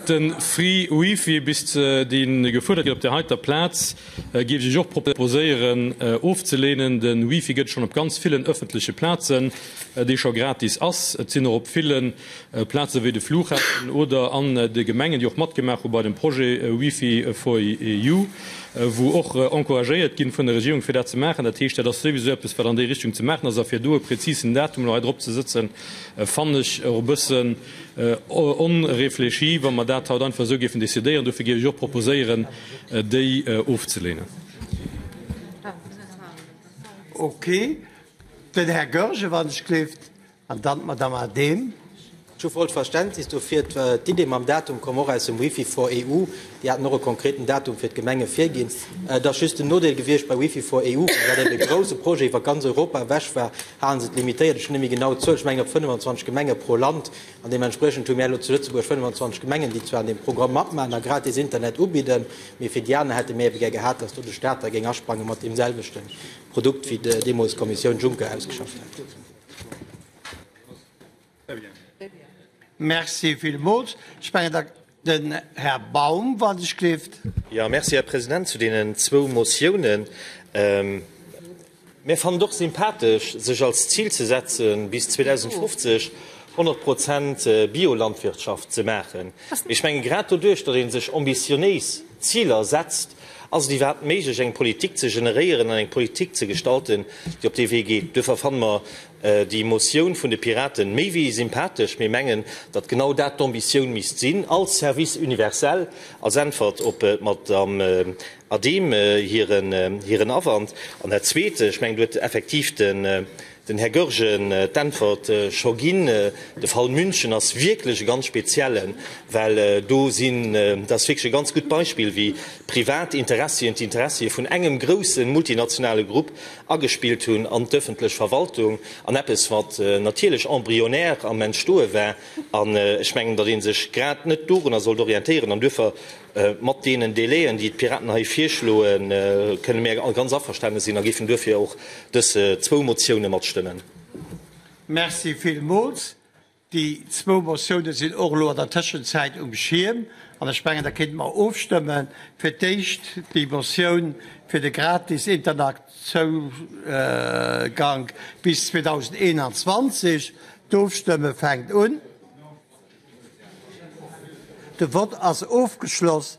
Den free wifi bis deen gefuerdert gëtt op der heiter Plaatz géif ech iech och proposéieren ofzelehnen. Den wifi gëtt schon op ganz villen öffentlechen Plaatzen dee schon gratis ass. Et sinn och op villen Plaatzen wéi de Flughafen oder an de Gemengen déi och matgemaach hunn bei dem Projet wifi for you wou och encouragéiert ginn vun der Regierung fir dat ze maachen. Dat heescht dat ass souwisou eppes wat an déi Richtung ze maachen ass a fir do e präzisen Datum elo hei drop ze sëtzen Fannen ech och e bëssen onréfléchi, wa mer dat haut einfach esou géifen decidéieren. Dofir géif ech och proposéieren, déi ofzelehnen. Okay, den Här Goergen, wann ech gleeft, an dann d'Madamm Adehm. Ech hu vollt Verständnis dofir. D'Idee mam Datum koum och aus dem Wifi for EU. Déi haten och e konkreten Datum fir d'Gemenge virginn. Et ass just den Nodeel gewiescht bei Wifi for EU, well dat eben e grouse Projet iwwer ganz Europa ewech war, halen se et limitéiert. Ech hunn net méi genau d'Zuel, ech mengen op 25 Gemenge pro Land. An deementspriechend hu mär elo zu Lëtzebuerg 25 Gemengen, déi zwar an deem Programm matmaachen a gratis Internet ubidden, mee fir déi aner hätte mir ebe gär gehat, dass do de Staat da géing asprange mat deemselwechte Produkt, wéi deemools d'Kommissioun Juncker ausgeschafft hat. Merci villmools. Ech menge da den Här Baum, wa sech gleeft. Jo, merci, Här President. Zu deenen zwou Motiounen, mir fannen et och sympathesch, sech als Zil ze setzen, bis 2050 100 Prozent Biolandwirtschaft ze maachen. Mee ech menge grad doduerch, datt ee sech ambitionéis Ziler setzt, ass et iwwerhaapt méiglech, eng Politik ze generéieren an eng Politik ze gestalten, déi op dee Wee geet. Duerfir fanne mer, déi Motioun vun de Piraten méi wéi sympathesch. Mir mengen, datt genau dat d'Ambitioun misst sinn als Service universel, als Äntwert op d'Madamm Adehm hiren Awand. An dat Zweete, ech mengen, do huet effektiv den Här Goergen d'Äntwert scho ginn, De Fall München ass wierklech e ganz speziellen, well do sinn, dat ass wierklech e ganz gutt Beispill, wéi privat Interessien, d'Interessie vun engem groussen multinationale Grupp agespillt hunn an d'öffentlech Verwaltung an eppes wat natierlech embryonär am Entstoe war, an ech mengen, datt ee sech grad net dorunner sollt orientéieren an duerfir mat deenen Délai'en, déi d'Piraten hei virschloen, kënne mir ganz averstane sinn a géifen duerfir och dës zwou Motioune matstëmmen. Merci villmools. Déi zwou Motioune sinn och elo an der Tëschenzäit um Schierm an ech mengen, da kéinte mer ofstëmme fir d'éischt déi Motioun fir de gratis Internetsougank bis 2021. D'Ofstëmme fänkt un. De Vott ass ofgeschloss.